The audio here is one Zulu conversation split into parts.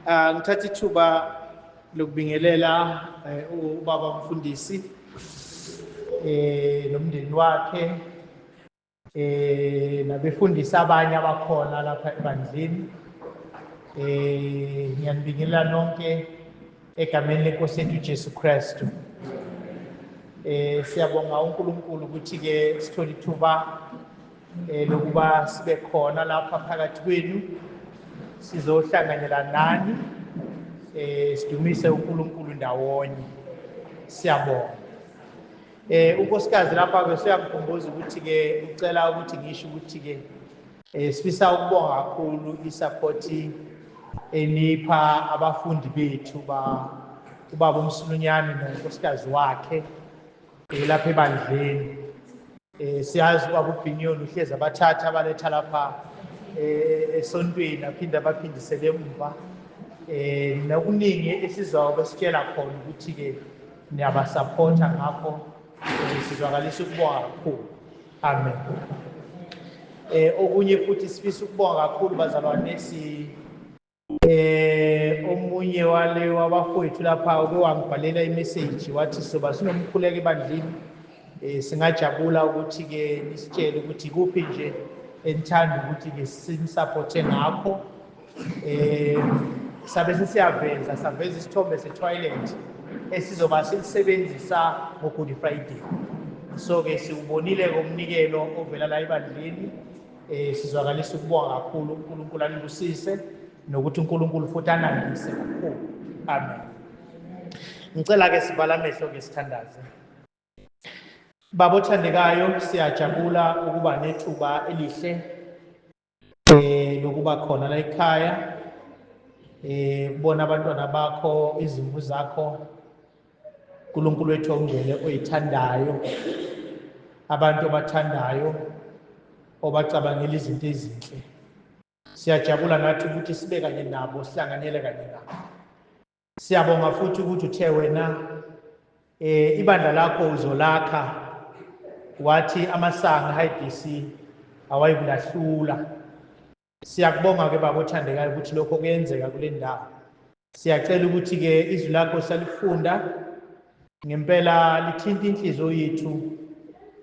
Ah, ngithatha ithuba lokubingelela eh, ubaba mfundisi eh nomndeni wakhe eh nabefundisi abanye abakhona lapha ebandleni eh ngiyanibingelela nonke egameni lenkosi yethu Jesu Kristu eh siyabonga uNkulunkulu ukuthi ke sithole ithuba eh lokuba sibe khona lapha phakathi kwenu sizohlanganyela nani eh sidumise uNkulunkulu ndawonye siyabonga Eh unkosikazi lapha ke siyamkhumbuza ukuthi ke ucela ukuthi ngisho ukuthi ke eh sifisa ukubonga kakhulu isupport enipha abafundi bethu ba ubaba umsulunyane nonkosikazi wakhe eh, lapha ebandleni eh siyazi uba kubhinyoni uhlezi abathatha abaletha lapha eh, esontweni aphinde abaphindisele emva eh nokuningi esizobe sitshela khona ukuthi ke Niyabasaphotha ngakho sizwakalisa ukubonga kakhulu. Amen. Eh okunye futhi sifisa ukubonga kakhulu bazalwane si eh omunye wale wabafowethu lapha uke wangibhalela imessage wathi soba sinomkhuleko ebandlini eh singajabula ukuthi ke nisitshele ukuthi kuphi nje enithanda ukuthi ke sinisupporte ngakho um sabe sesiyaveza saveza isithombe setoilet esizoba silisebenzisa ngogood friday so-ke siwubonile-ke umnikelo ovela la ebandleni um sizwakalisa ukubonga kakhulu unkulunkulu anibusise nokuthi unkulunkulu futhi anandise kakhulu amen ngicela-ke sivala amehlo ke sithandaze baba othandekayo siyajabula ukuba nethuba elihle eh lokuba khona la ekhaya eh kubona abantwana bakho izimvu zakho uNkulunkulu wethu ongcwele oyithandayo abantu obathandayo obacabangela izinto ezinhle siyajabula nathi ukuthi sibe kanye nabo sihlanganyele kanye nabo Siyabonga futhi ukuthi uthe wena eh ibandla lakho uzolakha wathi amasanga HBC awayikulahlula. Siyakubonga ke baba othandekayo ukuthi lokho kuyenzeka kule ndawo. Siyacela ukuthi ke izwi lakho salifunda ngempela lithinta inhliziyo yethu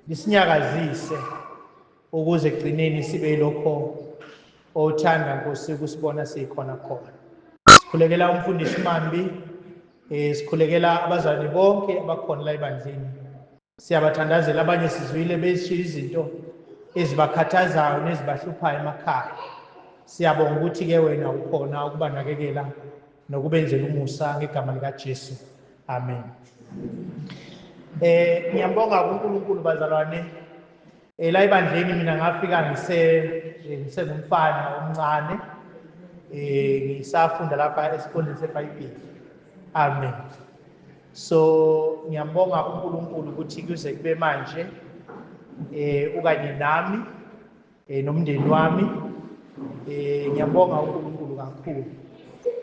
lisinyakazise ukuze ekugcineni sibe yilokho owuthanda nkosi ukusibona sikhona khona sikhulekela umfundisi mambi eh sikhulekela abazalwane bonke abakhona la ebandleni siyabathandazela abanye sizwile beshiya izinto ezibakhathazayo nezibahluphayo emakhaya siyabonga ukuthi ke wena ukhona ukubanakekela nokubenzela umusa ngegama likaJesu amen eh ngiyambonga uNkulunkulu bazalwane Eh la ebandleni mina ngafika ngise eh, ngisengumfana omncane eh ngisafunda lapha esikoleni seBhayibheli. Amen. So ngiyambonga uNkulunkulu ukuthi kuze kube manje eh ukanye nami eh nomndeni wami eh ngiyambonga uNkulunkulu kakhulu.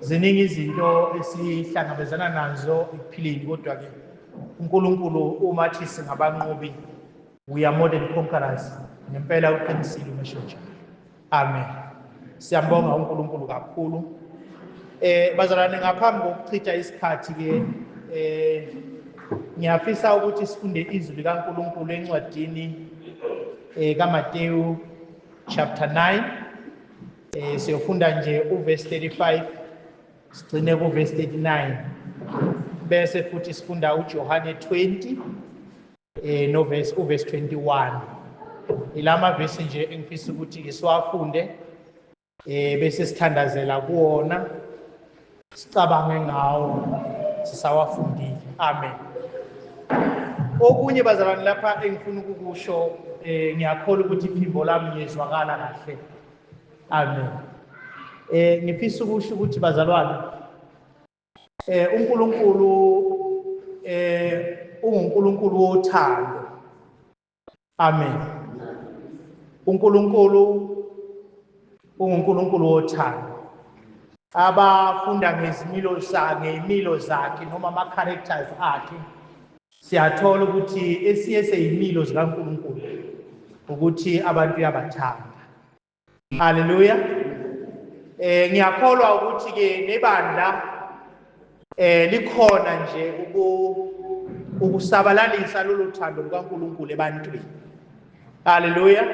Ziningi izinto esihlangabezana nazo ekuphileni kodwa ke uNkulunkulu uma thi singabanqobi we are more than conquerors ngempela uqinisile umesho njalo amen siyambonga uNkulunkulu kakhulu eh bazalwane ngaphambi kokuchitha isikhathi ke eh ngiyafisa ukuthi sifunde izwi likaNkulunkulu encwadini eh kaMateyu chapter 9 eh siyofunda nje uverse 35 sigcine kuverse 39 bese futhi sifunda uJohane 20 eh no verse u verse 21 ilama verse nje engifisa ukuthi ke siwafunde eh bese sithandazela kuona sicabange ngawo sisawafundile amen okunye bazalwane lapha engifuna ukukusho eh ngiyakholwa ukuthi iphimbo lami ngizwakala kahle amen eh ngifisa ukusho ukuthi bazalwane Eh uNkulunkulu eh unguNkulunkulu wothando. Amen. uNkulunkulu unguNkulunkulu wothando abafunda ngezimilo sakhe imilo zakhe noma ama characters akhe siyathola ukuthi esiye seyimilo zikaNkulunkulu ukuthi abantu uyabathanda Haleluya. Eh ngiyakholwa ukuthi ke nebandla eh likhona nje uku ukusabalalisa lolu thando lukaNkulunkulu ebantwini. Haleluya.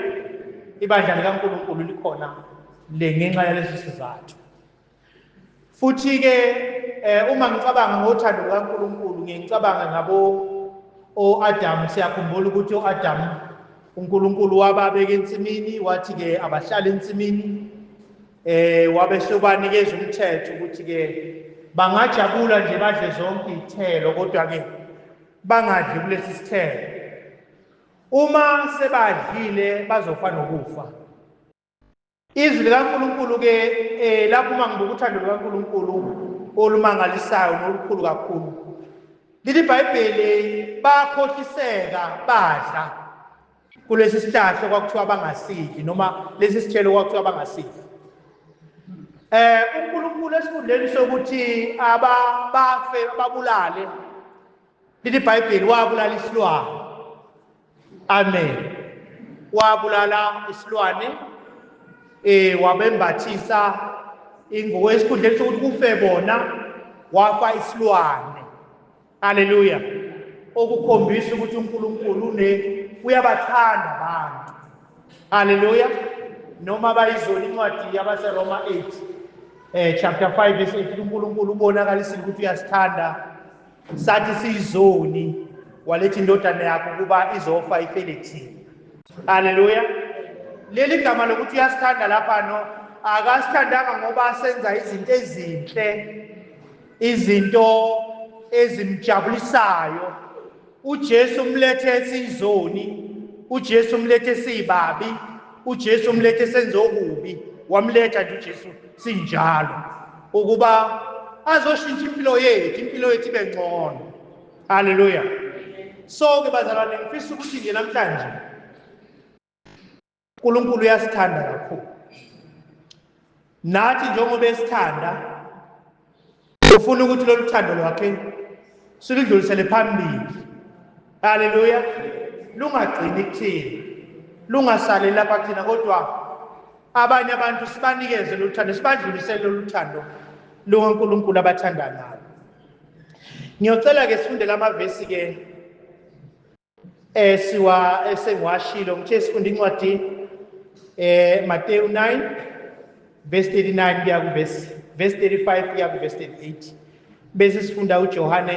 Ibandla likaNkulunkulu likhona le ngenxa yalesi sizathu. Futhi-ke um uma ngicabanga ngothando lukaNkulunkulu ngiye ngicabanga ngabo o-Adamu siyakhumbula ukuthi o-Adamu uNkulunkulu wababeka ensimini wathi-ke abahlale ensimini eh wabesobanikeza umthetho ukuthi-ke bangajabula nje badle zonke iy'thelo kodwa-ke bangadli kulesi sithelo uma sebadlile bazofa nokufa izwi likaNkulunkulu ke eh lapho uma ngibuka uthando lukaNkulunkulu olumangalisayo nolukhulu kakhulu lithi iBhayibheli bakhohliseka badla kulesi sihlahla kwakuthiwa bangasidli noma lesi sithelo kwakuthiwa bangasidli eh uNkulunkulu esikhundleni sokuthi aba bafe babulale lithi iBhayibheli wabulala isilwane Amen. Wabulala isilwane eh wabembathisa ingubo esikhundleni sokuthi kufe bona wafa isilwane. Haleluya. Okukhombisa ukuthi uNkulunkulu une uyabathanda abantu. Haleluya. Noma bayizona incwadi yabaseRoma 8 eh chapter 5 verse 8 uNkulunkulu ubonakalisa ukuthi uyasithanda sathi siyizoni waletha indodana yakho ukuba izofa ifele thina haleluya leli gama lokuthi uyasithanda lapha no akasithandanga ngoba senza izinto ezinhle izinto ezimjabulisayo uJesu umlethe esizoni uJesu umlethe sibabi uJesu umlethe senze okubi wamletha nje uJesu sinjalo ukuba azoshintsha impilo yethu impilo yethu ibe ngcono haleluya so ke bazalwane ngifisa ukuthi nje namhlanje uNkulunkulu uyasithanda kakhulu nathi njengoba esithanda ufuna ukuthi lolu thando lwakhe siludlulisele phambili haleluya lungagcini kuthina lungasaleli lapha kuthina kodwa Abanye abantu sibanikeze lolu thando, sibadlulisele lolu thando lukaNkulunkulu abathanda ngalo. Ngiyocela-ke sifundele amavesi-ke eh, siwa esengiwashilo eh, ngithe sifunde incwadi eh Mateyu 9 verse 39 kuya ku verse verse 35 kuya ku verse 38 bese sifunda uJohane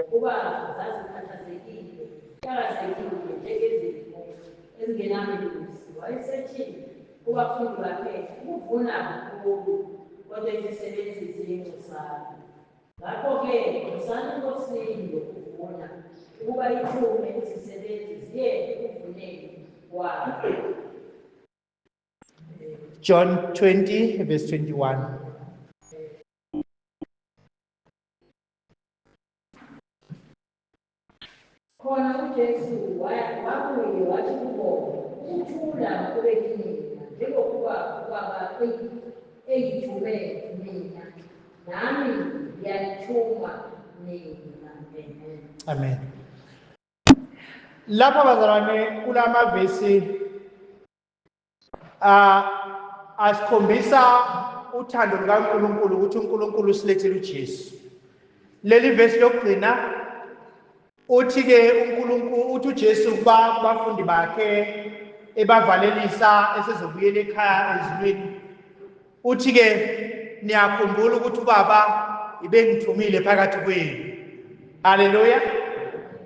Ngokuba zazikhathazekile, zixakazekile njengezimvu ezingenamelusi, wayesethi kubafundi bakhe, Ukuvuna kukhulu, kodwa izisebenzi ziyingcosana. Ngakho-ke nxusani eNkosini yokuvuna, ukuba ithume izisebenzi ziye ekuvuneni kwayo. John 20, verse 21. Khona uJesu wakuye wathi kubo, Ukuthula kube kinina, njengokuba uBaba engithume mina, nami ngiyanithuma nina. Amen. Lapha bazalwane kulamavesi Ah asikhombisa uthando lukaNkulunkulu ukuthi uNkulunkulu usilethele uJesu. Leli verse lokugcina uthi ke uNkulunkulu uthi uJesu kuba bafundi bakhe ebavalelisa esezobuyela ekhaya ezulwini Uthi-ke, Niyakhumbula ukuthi uBaba ibengithumile phakathi kwenu. Haleluya!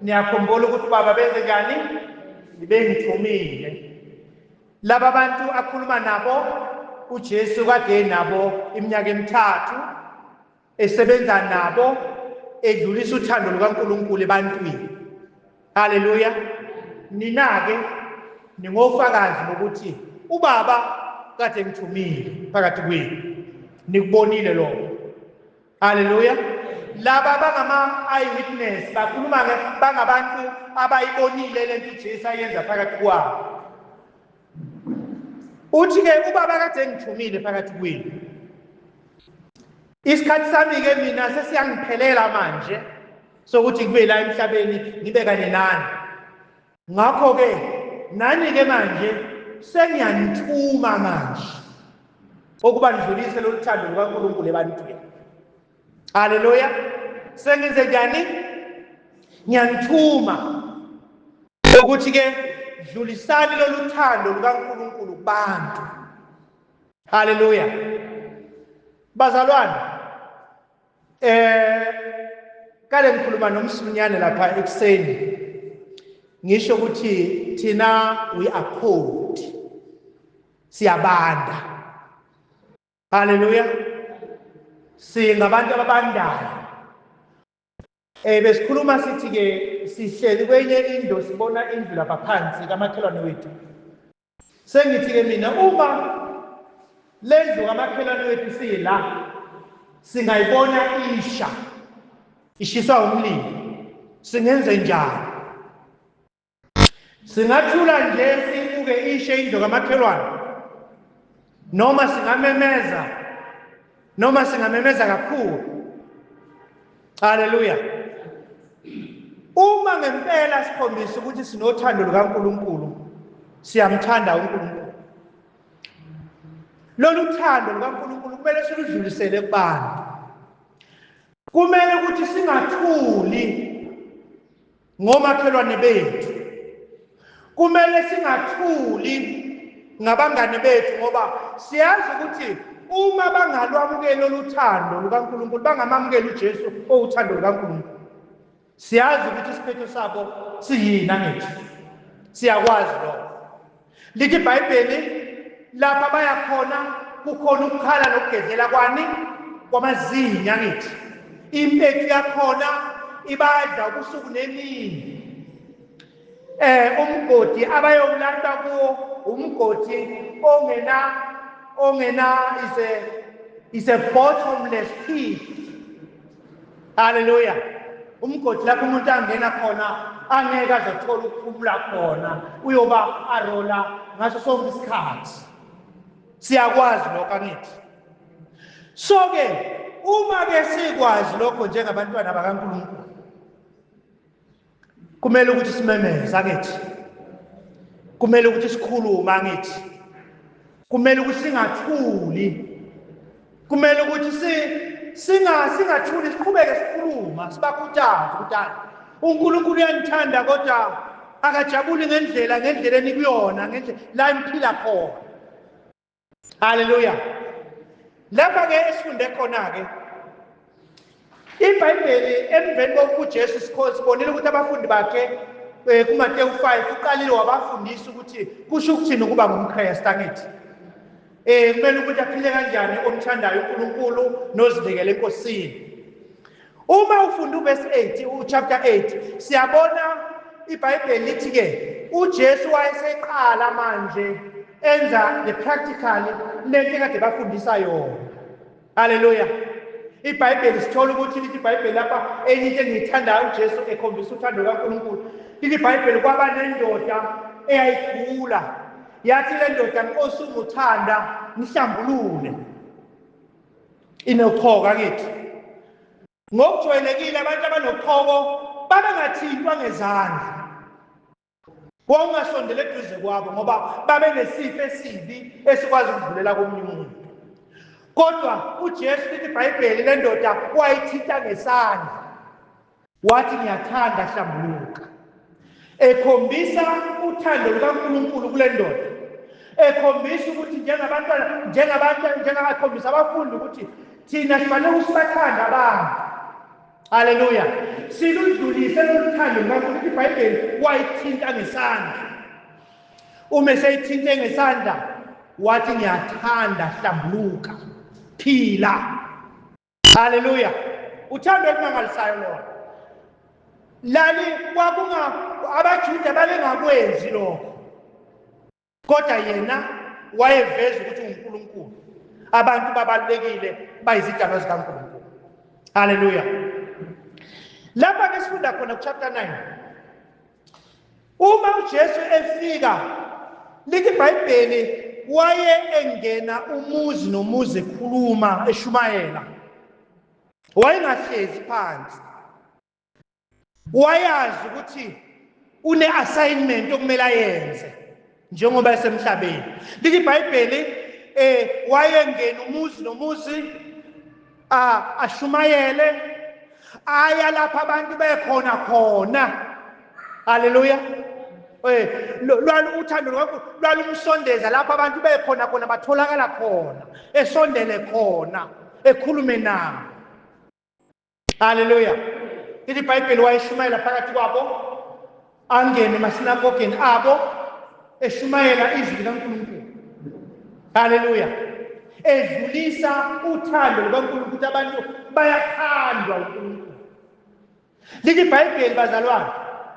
Niyakhumbula ukuthi uBaba benze njani? Ibengithumile. Laba bantu akhuluma nabo uJesu kade nabo iminyaka emithathu esebenza nabo edlulisa uthando lukaNkulunkulu ebantwini haleluya nina-ke ningofakazi bokuthi ubaba kade ngithumile phakathi kwenu nikubonile lokho haleluya laba bangama-eyewitness bakhuluma bangabantu abayibonile le nto ujesu ayenza phakathi kwabo uthi-ke ubaba kade engithumile phakathi kwenu isikhathi sami-ke mina sesiyangiphelela manje sokuthi kube la emhlabeni ngibe kanye nani ngakho-ke nani-ke manje sengiyanithuma manje okuba nidlulise lolu thando lukankulunkulu ebantwini haleluya sengenze njani ngiyanithuma ukuthi-ke dlulisani lolu thando lukankulunkulu kubantu haleluya bazalwane eh kale ngikhuluma nomsinyane lapha ekuseni ngisho ukuthi thina we are cold siyabanda Haleluya. Singabantu ababandayo. Eh besikhuluma sithi ke sihleli kwenye indlu sibona indlu lapha phansi kamakhelwane wethu. Sengithi ke mina uma lendlu kamakhelwane wethu sila singayibona isha ishiswa umlilo singenze njani Singathula nje sibuke ishe indlu kamakhelwane noma singamemeza noma singamemeza kakhulu. Haleluya. Uma ngempela sikhombisa ukuthi sinothando lukaNkulunkulu, siyamthanda uNkulunkulu. Lolu thando lukaNkulunkulu kumele siludlulisele kubantu. Kumele ukuthi singathuli ngomakhelwane bethu kumele singathuli ngabangane bethu ngoba siyazi ukuthi uma bangalwamukeli oluthando lukaNkulunkulu bangamamukeli uJesu owuthando lukaNkulunkulu siyazi ukuthi isiphetho sabo siyini angithi siyakwazi lokho Lithi iBhayibheli lapha baya khona kukhona ukukhala nokugedlela kwani kwamazinyo angithi impethu yakhona ibadla ubusuku nemini eh umgodi abayowulanda kuwo umgodi ongena ongena is a is a bottomless pit Haleluya. Umgodi lapho umuntu angena khona angeke azothola ukuphumula khona uyoba arola ngaso sonke isikhathi. Siyakwazi lokho angithi. So ke uma ke sikwazi lokho njengabantwana bakaNkulunkulu kumele ukuthi simemeze angithi kumele ukuthi sikhulume angithi kumele ukuthi singathuli kumele ukuthi si singa singathuli siqhubeke sikhuluma sibakhuthaze ukuthi hayi uNkulunkulu uyanithanda kodwa akajabuli ngendlela ngendlela enikuyona ngendlela la imphila khona haleluya lapha-ke esifunde khona-ke ibhayibheli emveni kokuba ujesu sibonile ukuthi abafundi bakhe um kumatewu 5 uqalile wabafundisa ukuthi kusho ukuthini ukuba ngumkhresta angithi um kumele ukuthi aphile kanjani omthandayo unkulunkulu nozinikele enkosini Uma ufunda uverse 8 uchapter 8 siyabona iBhayibheli lithi ke uJesu wayeseqala manje enza the practical lento kade bafundisa yona. Hallelujah. IBhayibheli sithola ukuthi lithi iBhayibheli lapha enye into engiyithandayo uJesu ekhombisa uthando kaNkulunkulu. Lithi iBhayibheli kwaba nendoda eyayigula. Yathi le ndoda Nkosi unguthanda ngihlambulule. Inokhoko akithi. Ngokujwayelekile abantu abanokhoko babengathintwa ngezandla. Wawungasondela eduze kwabo ngoba babenesifo esibi esikwazi ukudlulela komunye umuntu. Kodwa uJesu lithi iBhayibheli lendoda wayithinta ngesandla. Wathi, Ngiyathanda, hlambuluka. Ekhombisa uthando lukaNkulunkulu kule ndoda, ekhombisa ukuthi njengabantwana, njengabantu, njengakhombisa abafundi ukuthi thina sifanele ukuthi sibathande abantu. Haleluya! Siludlulise lolu thando lukaNkulunkulu. IBhayibheli wayithinta ngesandla. Uma eseyithinte ngesandla, wathi, Ngiyathanda, hlambuluka, phila. Haleluya. Uthando olumangalisayo lona. Lali kwakunga abaJuda babengakwenzi lokho. Kodwa yena wayeveza ukuthi uNkulunkulu. Abantu babalekile bayizidalwa zikaNkulunkulu. Haleluya. Lapha ke sifunda khona ku chapter 9. Uma uJesu efika lithi iBhayibheli waye engena umuzi nomuzi ekhuluma eshumayela wayengahlezi phansi wayazi ukuthi une-assignment okumele ayenze njengoba esemhlabeni lithi ibhayibheli eh wayengena umuzi nomuzi ashumayele aya lapha abantu bekhona khona haleluya eh lwaluthando lwakho lwalumsondeza lapha abantu bekhona khona batholakala khona esondele khona ekhulume nabo haleluya lithi ibhayibheli wayeshumayela phakathi kwabo angene emasinagogeni abo eshumayela izwi likankulunkulu haleluya edlulisa uthando lukankulunkulu ukuthi abantu bayathandwa unkulunkulu lithi ibhayibheli bazalwane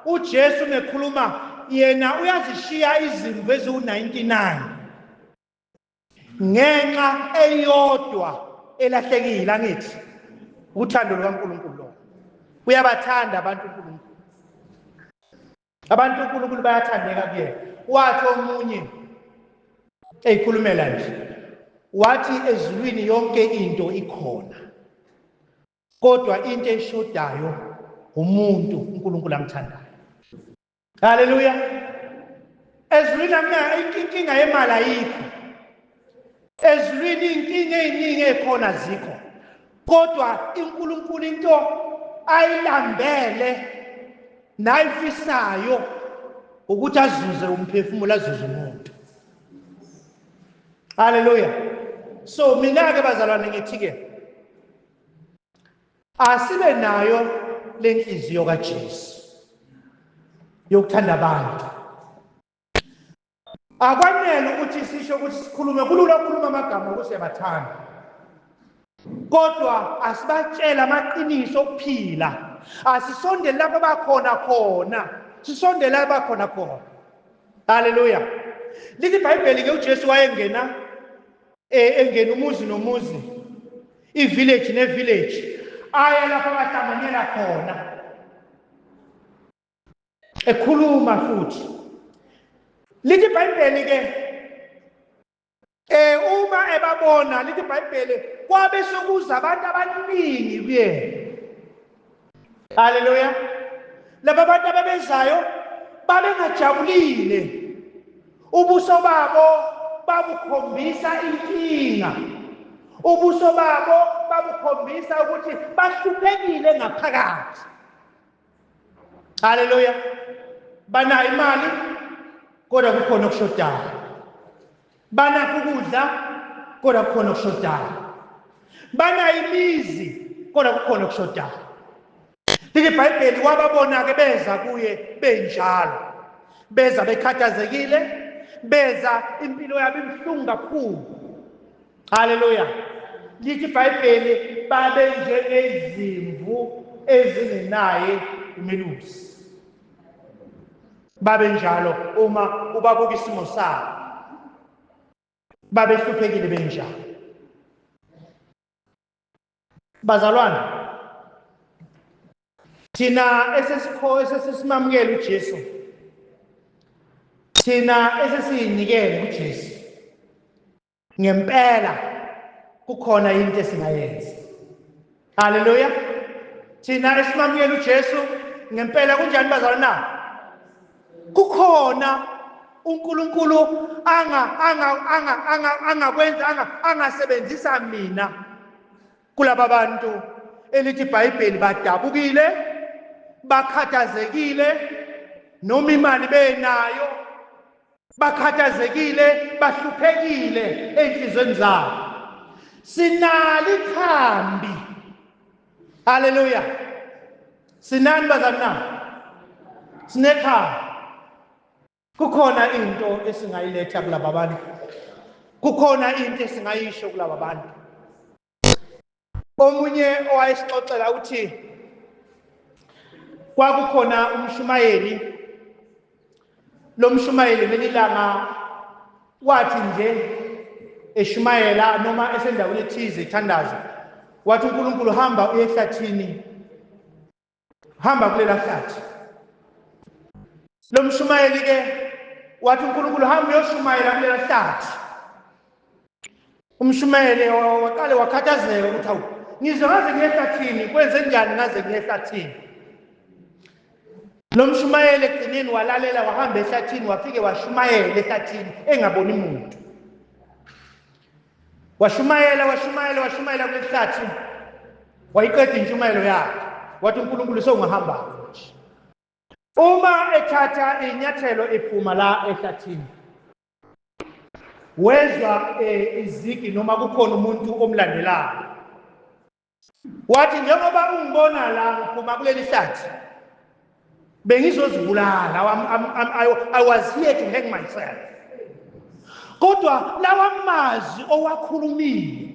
ujesu mekhuluma yena uyazishiya izimvu eziwu-99 ngenxa eyodwa elahlekile angithi uthando lukaNkulunkulu lo uyabathanda abantu uNkulunkulu abantu uNkulunkulu bayathandeka kuyena wathi omunye eyikhulumela nje wathi ezulwini yonke into ikhona kodwa into eshodayo umuntu uNkulunkulu amthandayo haleluya ezulwini inkinga yemali ayikho ezulwini iy'nkinga ey'ningi ey'khona zikho kodwa inkulunkulu into ayilambele nayifisayo ukuthi azuze umphefumulo azuze umuntu haleluya so mina-ke bazalwane ngithi-ke Asibe nayo lenhliziyo kaJesu yokuthanda abantu. Akwanele ukuthi sisho ukuthi sikhulume kulula ukukhuluma amagama ukuthi siyabathanda. Kodwa asibatshela amaqiniso okuphila. Asisondele lapho bakhona khona. Sisondele lapho bakhona khona. Hallelujah. Lithi iBhayibheli ke uJesu wayengena eh, engena umuzi nomuzi ivillage nevillage aya lapho abahlanganyela khona ekhuluma futhi lithi ibhayibheli ke eh uma ebabona lithi ibhayibheli kwabe sokuza abantu abaningi kuyena haleluya laba bantu ababezayo babengajabulile ubuso babo babukhombisa inkinga ubuso babo babukhombisa ukuthi bahluphekile ngaphakathi haleluya banayo imali kodwa kukhona okushodayo Banakho ukudla kodwa kukhona okushodayo. Banayo imizi kodwa kukhona okushodayo. Lithi iBhayibheli wababona-ke beza kuye benjalo. Beza bekhathazekile, beza impilo yabo ibuhlungu kakhulu. Haleluya. Lithi iBhayibheli babe njengezimvu ezingenaye umelusi. babe njalo uma ubabuka isimo sabo babehluphekile benjalo bazalwane thina esesikho esesisimamukela uJesu thina esesiyinikele uJesu ngempela kukhona into esingayenza haleluya thina esimamukela ujesu ngempela kunjani bazalwa na kukhona unkulunkulu angakwenza angasebenzisa mina kulaba bantu elithi ibhayibheli badabukile bakhathazekile noma imali benayo Bakhathazekile, bahluphekile ezinhlizweni zabo. Sinali khambi. Haleluya. Sinani bazalwane na? Sinekhambi. Kukhona into esingayiletha kulaba bantu. Kukhona into esingayisho kulaba bantu. omunye owayesixoxela uthi kwakukhona umshumayeli lo mshumayeli ngelilanga wathi nje eshumayela noma esendaweni ethize ethandaza wathi uNkulunkulu hamba uye ehlathini hamba kulela hlathi lo mshumayeli ke wathi unkulunkulu hamba uyoshumayela kulela hlathi umshumayeli waqale wakhathazeka ukuthi awu ngizwe ngaze ngiyehlathini kwenze njani ngaze ngiyehlathini lo mshumayeli egcineni walalela wahamba ehlathini wafike washumayela ehlathini engaboni muntu washumayela washumayela washumayela kulehlathi wayiqeda intshumayelo yakhe wathi uNkulunkulu sewungahamba manje uma ethatha inyathelo iphuma la ehlathini wezwa eh, izigi noma kukhona umuntu omlandelayo Wathi njengoba ungibona la ngiphuma kuleli hlathi bengizozibulala I was here to hang myself kodwa lawa mazwi owakhulumile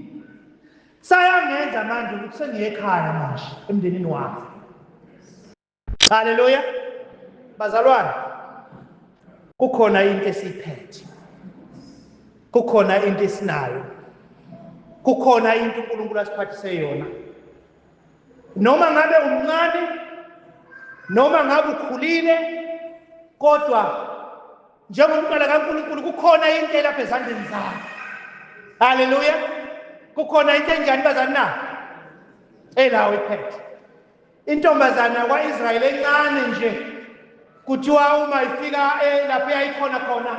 sayangenza manje ukuthi sengiye ekhaya manje emndenini wami haleluya bazalwane kukhona into esiphethe kukhona into esinayo kukhona into uNkulunkulu asiphathise yona noma ngabe umncane noma ngabe ukhulile kodwa njengomntwana kaNkulunkulu kukhona into elapha ezandleni zakhe haleluya kukhona into enjani bazani na elawo iphethe Intombazane yakwa-Israyeli encane nje kuthiwa uma ifika eh, lapho yayikhona khona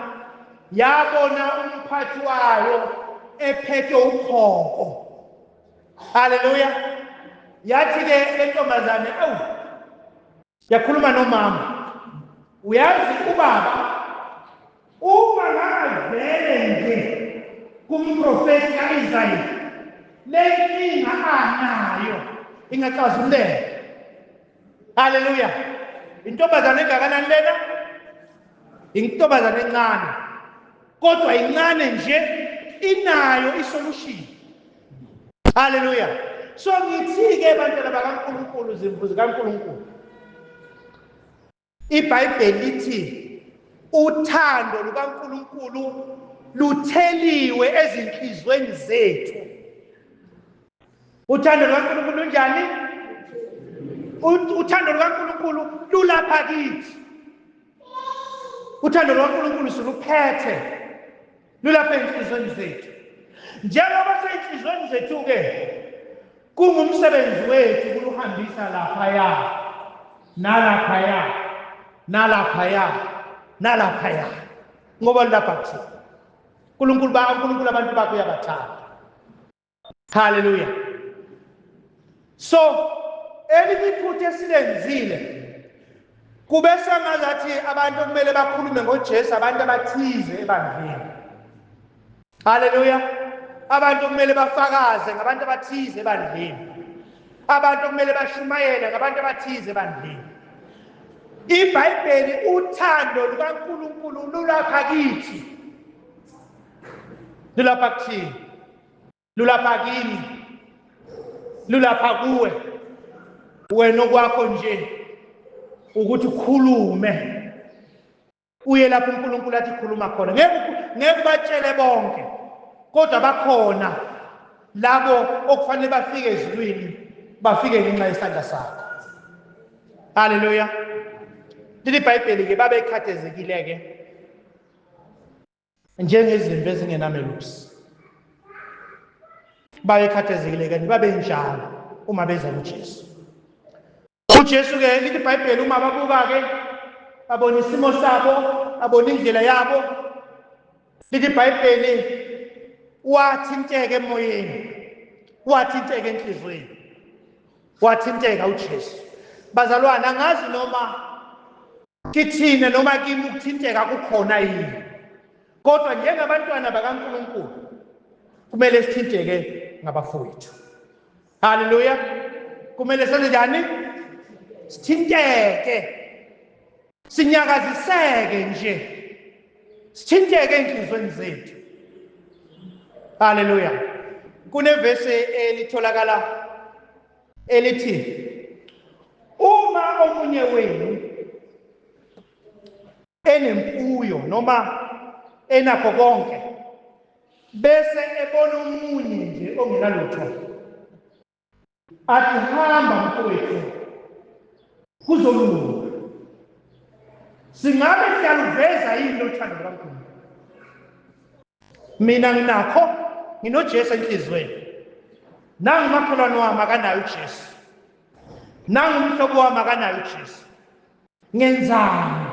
yabona umphathi wayo ephethe ukhoko haleluya yathi-ke le ntombazane awu yakhuluma nomama uyazi ubaba Uma ngangavele nje kumprofethi ka-Isaya, le nkinga anayo ingaxazululeka. Haleluya! Intombazane engakanani lena? Intombazane encane, kodwa incane nje inayo isolushini. Haleluya! So ngithi-ke bantwana bakaNkulunkulu, zimvu zikaNkulunkulu, IBhayibheli lithi uthando lukaNkulunkulu lutheliwe ezinhlizweni zethu. Uthando lukaNkulunkulu lunjani? Uthando lukaNkulunkulu lulapha kithi. Uthando lukaNkulunkulu siluphethe. lulapha ezinhlizweni zethu njengoba seyinhlizweni zethu-ke kungumsebenzi wethu kuluhambisa laphaya nalaphaya nalaphaya nalaphaya ngoba lulapha kuthina unkulunkulu unkulunkulu abantu bakho uyabathanda Hallelujah. So elinye iphutha esilenzile kube sengazathi abantu kumele bakhulume ngoJesu abantu abathize ebandleni. Hallelujah. Abantu kumele bafakaze ngabantu abathize ebandleni. Abantu kumele bashumayele ngabantu abathize ebandleni. IBhayibheli uthando lukaNkulunkulu lulapha kithi. Lulapha kuthina. lulapha kimi lulapha kuwe wena okwakho nje ukuthi ukhulume uye lapho uNkulunkulu athi khuluma khona ngeke ngeke batshele bonke kodwa bakhona labo okufanele bafike ezulwini bafike ngenxa yesandla sakho haleluya lilibhayibheli ke babekhathezekile ke njengezimvu ezingenamelusi babekhathazekile kanti babenjalo uma beza kuJesu uJesu ke lithi iBhayibheli uma babuka ke babona isimo sabo babona indlela yabo lithi iBhayibheli wathinteke emoyeni wathinteke enhlizweni wathinteka uJesu bazalwana ngazi noma kithina noma kimi ukuthinteka kukhona yini kodwa njengabantwana bakaNkuluNkulu kumele sithinteke ngabafowethu haleluya kumele senze njani sithinteke sinyakaziseke nje sithinteke enhlizweni zethu haleluya kunevese elitholakala elithi uma omunye wenu enemfuyo noma enakho konke bese ebona omunye nje ongenalutho athi hamba mfowethu kuzolunga singabe siyaluveza yini lothando lukaNkulunkulu mina nginakho nginojesu enhliziyweni nangu makholwane wami akanayo ujesu nangu umhlobo wami akanayo ujesu ngenzani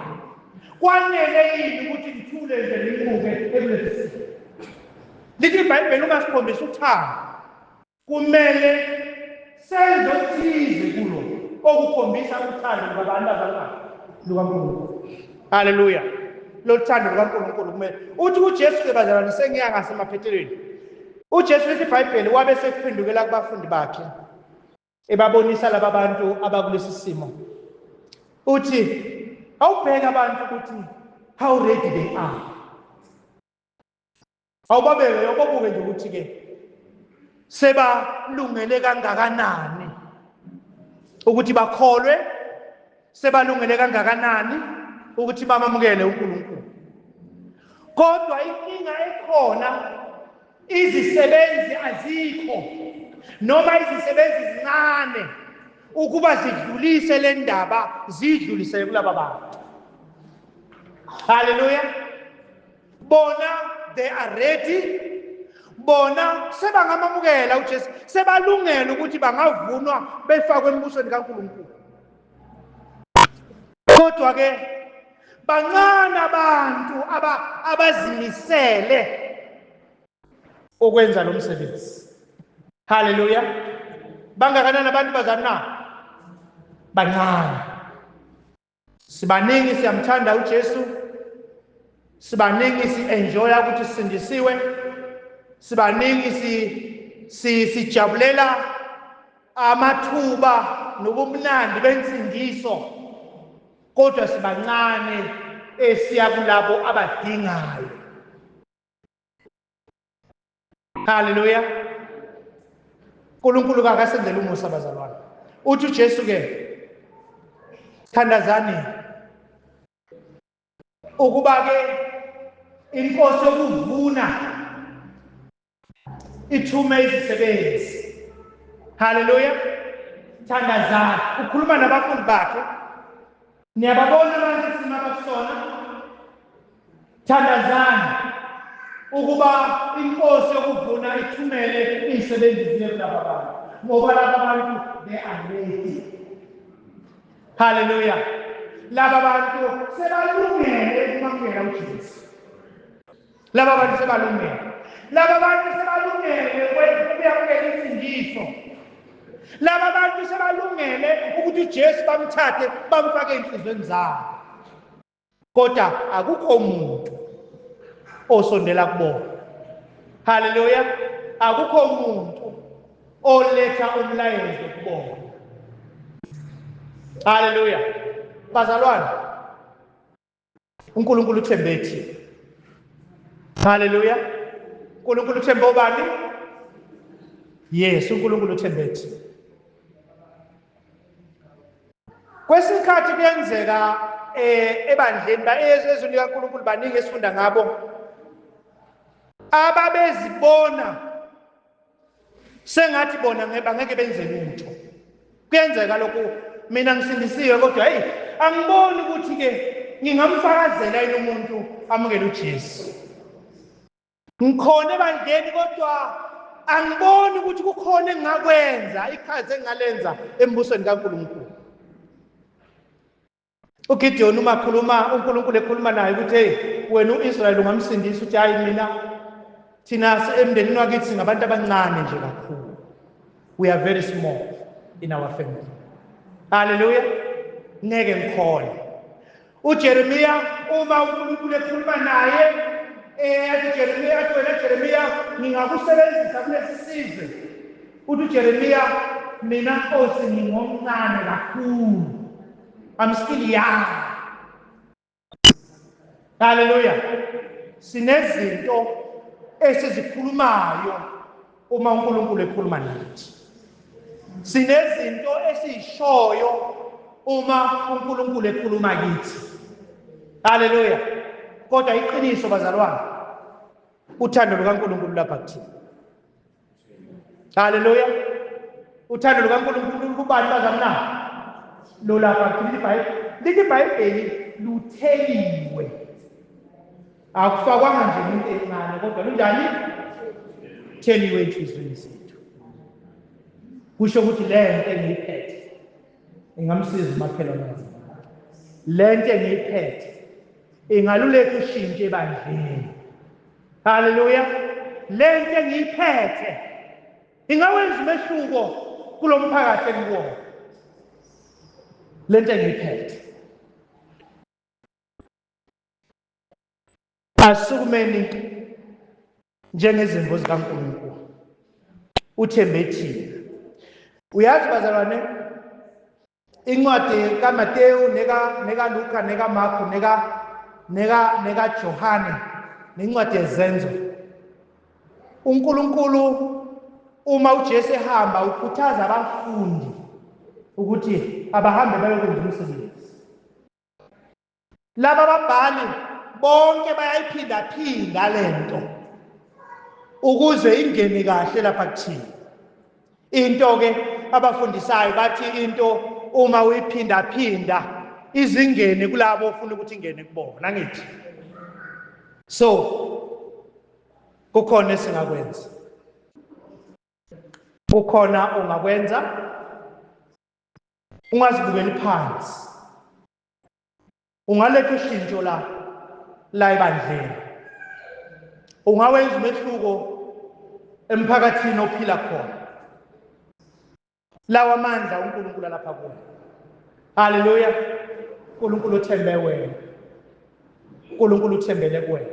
kwanele yini ukuthi ngithule nje ngibuke ekulesisimo lithi ibhayibheli uma sikhombisa uthando Kumele senze okuthize kulo okukhombisa uthando lukabantu abangaki lukaNkulunkulu. Haleluya. Lothando lukaNkulunkulu kumele uthi uJesu ke bazalwane sengiya ngasemaphethelweni. UJesu lithi iBhayibheli wabe sekuphendukela kubafundi bakhe ebabonisa laba bantu abakulesi simo. Uthi awubheka abantu ukuthi how ready they are. Awubabeke ubabuke nje ukuthi ke sebalungele kangakanani ukuthi bakholwe sebalungele kangakanani ukuthi bamamukele uNkulunkulu kodwa inkinga ekhona izisebenzi azikho noma izisebenzi zincane ukuba zidlulise le ndaba zidlulisele kulaba bantu haleluya bona they are ready bona sebangamamukela uJesu sebalungela ukuthi bangavunwa befakwe embusweni kaNkulunkulu kodwa ke bancane abantu aba abazimisele ukwenza lo msebenzi haleluya bangakanani abantu bazana bancane sibaningi siyamthanda uJesu sibaningi sienjoya ukuthi sisindisiwe sibaningi si si sijabulela amathuba nobumnandi bensindiso kodwa sibancane esiya kulabo abadingayo haleluya unkulunkulu kakasenzela umusa bazalwane uthi ujesu ke thandazani ukuba ke inkosi yokuvuna ithume izisebenzi haleluya thandazani ukhuluma nabafundi bakhe Niyababona manje isimo abakusona? Thandazani ukuba inkosi yokuvuna ithumele izisebenzi ziye kulaba bantu ngoba laba bantu they are ready. Hallelujah. Laba bantu sebalungele ukumamukela uJesu. Laba bantu sebalungele. Laba bantu sebalungele kwenza ukuyamukela imfundiso. Laba bantu sebalungele ukuthi uJesu bamthathe bamfake enhlizweni zabo. Kodwa akukho umuntu osondela kubona. Haleluya. Akukho umuntu oletha umlayezo kubona. Haleluya. Bazalwane uNkulunkulu uthembe thina haleluya uNkulunkulu uthembe obani yes uNkulunkulu uthembe thina kwesikhathi kuyenzeka eh ebandleni baezweni likaNkulunkulu baningi esifunda ngabo ababezibona sengathi bona ngeke bangeke benze lutho kuyenzeka lokhu mina ngisindisiwe kodwa hey angiboni ukuthi ke ngingamfakazela yini umuntu amukele uJesu ngikhona ebandleni kodwa angiboni ukuthi kukhona engakwenza iqhaza engalenza embusweni kaNkulunkulu ugidiyoni uma khuluma unkulunkulu ekhuluma naye ukuthi heyi wena u-israyeli ungamsindisa ukuthi hhayi mina thina emndenini wakithi singabantu abancane nje kakhulu we are very small in our family halleluya ngeke ngikhona ujeremiya uma unkulunkulu ekhuluma naye eyathi eh, jeremiya athi wena jeremiya ngingakusebenzisa kulesi sizwe uthi ujeremiya mina nkosi ngingomncane kakhulu I'm still young. Hallelujah. Sinezinto esizikhulumayo uma uNkulunkulu ekhuluma nathi. Sinezinto esizishoyo uma uNkulunkulu ekhuluma kithi. Hallelujah. Kodwa iqiniso bazalwane. Uthando lukaNkulunkulu lapha kuthina. Haleluya. Uthando lukaNkulunkulu lukubani bazalwane na? Lolapha kuphila iBhayibheli. Lithi iBhayibheli lutheliwe. Akufakwanga nje into encane kodwa lunjani? Theliwe enhliziyweni zethu. Kusho ukuthi le nto engiyiphethe ingamsiza umakhelwane wami. Le nto engiyiphethe ingaluleka ushintshe ebandleni. Haleluya. Le nto engiyiphethe ingawenza umehluko kulo mphakathi engikuwona. Le nto engiyiphethe. Asukumeni njengezimvu zikaNkulunkulu. Uthembe thina. Uyazi bazalwane incwadi kaMateyu neka nekaLuka nekaMarku neka neka nekaJohane nencwadi yezenzo uNkulunkulu uma uJesu ehamba ukhuthaza abafundi ukuthi abahambe bayokwenza umsebenzi laba babhali bonke bayayiphindaphinda le nto ukuze ingene kahle lapha kuthina into-ke abafundisayo bathi into uma uyiphindaphinda izingene kulabo ofuna ukuthi ingene kubona ngithi so kukhona esingakwenza kukhona ongakwenza ungazibukeli phansi ungaletha ushintsho la la ebandleni ungawenza umehluko emphakathini ophila khona lawa mandla uNkulunkulu alapha kuwe haleluya uNkulunkulu uthembe wena uNkulunkulu uthembele kuwe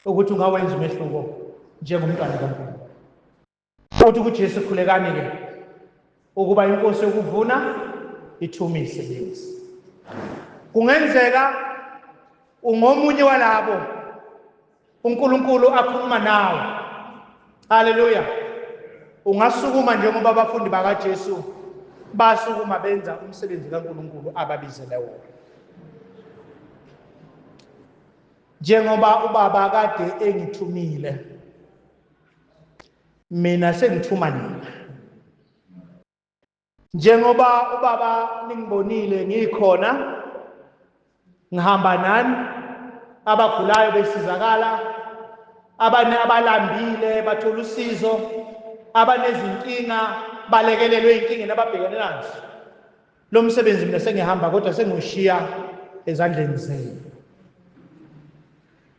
ukuthi ungawenza umehluko njengomntwana kaNkulunkulu Uthi kuJesu, Khulekani-ke ukuba inkosi yokuvuna ithume izisebenzi. Kungenzeka ungomunye walabo uNkulunkulu akhuluma nawe. Haleluya. Ungasukuma njengoba abafundi bakaJesu basukuma benza umsebenzi kaNkulunkulu ababizele wona. Njengoba ubaba kade engithumile mina sengithuma nina njengoba ubaba ningibonile ngikhona ngihamba nani abagulayo besizakala abane abalambile bathola usizo abanezinkinga balekelelwe inkinga nababhekene nazo lo msebenzi mina sengihamba kodwa sengiwushiya ezandleni zenu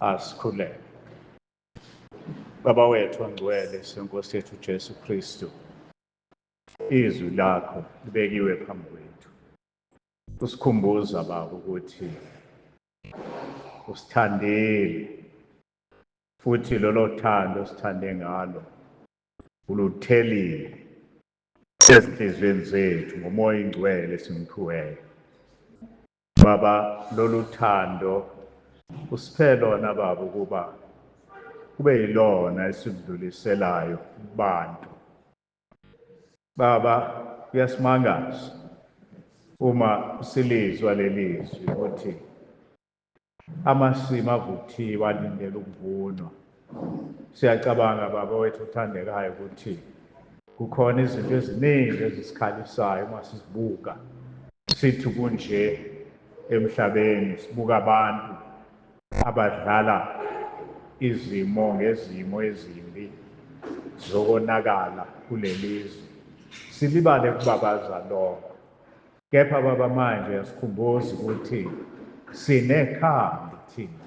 asikhuleke baba wethu ongcwele senkosi yethu jesu kristu izwi lakho libekiwe phambi kwethu usikhumbuza baba ukuthi usithandile Futhi lolo thando sithande ngalo uluthelile ezinhliziyweni zethu ngomoya ingcwele esimphiweyo. Baba, lolu thando usiphe lona Baba ukuba kube yilona esidluliselayo kubantu. Baba, kuyasimangaza uma silizwa lelizwi ukuthi Amasimu avuthiwe alindele ukuvunwa. Siyacabanga baba wethu othandekayo ukuthi kukhona izinto eziningi ezisikhalisayo uma sizibuka sithi kunje emhlabeni sibuka abantu abadlala izimo ngezimo ezimbi zokonakala kulelizwe silibale kubabaza lokho Kepha Baba manje uyasikhumbuza ukuthi sinekhambi thina.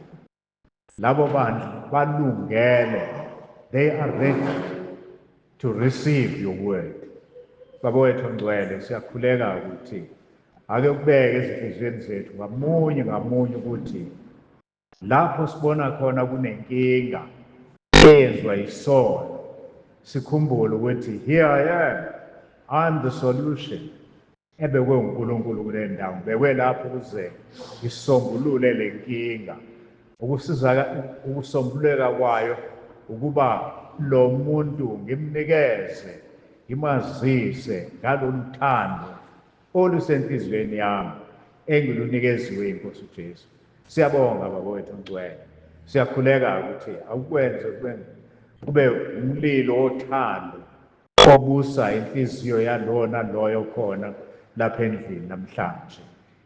Labo bantu balungele, they are ready to receive your word. Baba wethu ongcwele siyakhuleka ukuthi ake kubeke ezinhliziyweni zethu ngamunye ngamunye ukuthi Lapho sibona khona kunenkinga eyenziwa yisono, sikhumbule ukuthi here I am, I'm the solution. Ebekwe uNkulunkulu kule ndawo, ngibekwe lapho ukuze ngisombulule le nkinga. Ukusizaka ukusombululeka kwayo ukuba lo muntu ngimnikeze ngimazise ngalolu thando olusenhliziyweni yami engilunikeziwe yiNkosi uJesu. Siyabonga Baba wethu ongcwele. Siyakhuleka ukuthi awukwenze kube kube umlilo wothando obusa inhliziyo yalona loyo khona lapha endlini namhlanje.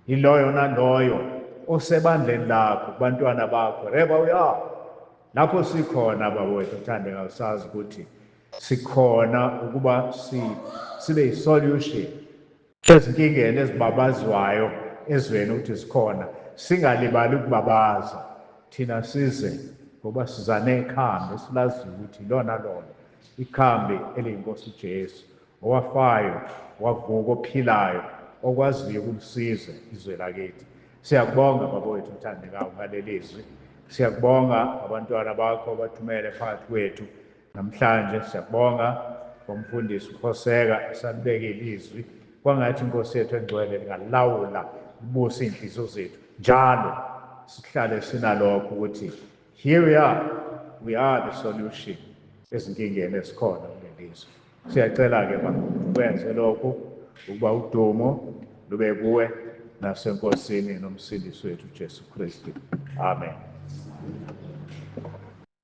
Yiloyo naloyo osebandleni lakho kubantwana bakho. Reba uya lapho sikhona Baba wethu othandeka usazi ukuthi Sikhona ukuba si, sibe yi-solution ezinkingeni ezibabazwayo ezweni ukuthi zikhona. Singalibali ukubabaza. Thina size ngoba siza nekhambi esilaziyo ukuthi ilona lona ikhambi eliyiNkosi uJesu, owafayo, wavuka, ophilayo, okwaziyo ukulisiza izwe lakithi. Siyakubonga baba wethu othandekayo ngaleli zwi. Siyakubonga abantwana bakho abathumele phakathi kwethu. Namhlanje siyabonga ngomfundisi uKhoseka esalibekile izwi kwangathi inkosi yethu engcwele lingalawula libuse iy'nhliziyo zethu njalo sihlale sinalokho ukuthi here we are we are the solution ezinkingeni ezikhona kulelizwe siyacela-ke ba ukwenze lokhu ukuba udumo lube kuwe nasenkosini nomsindisi wethu ujesu kristu amen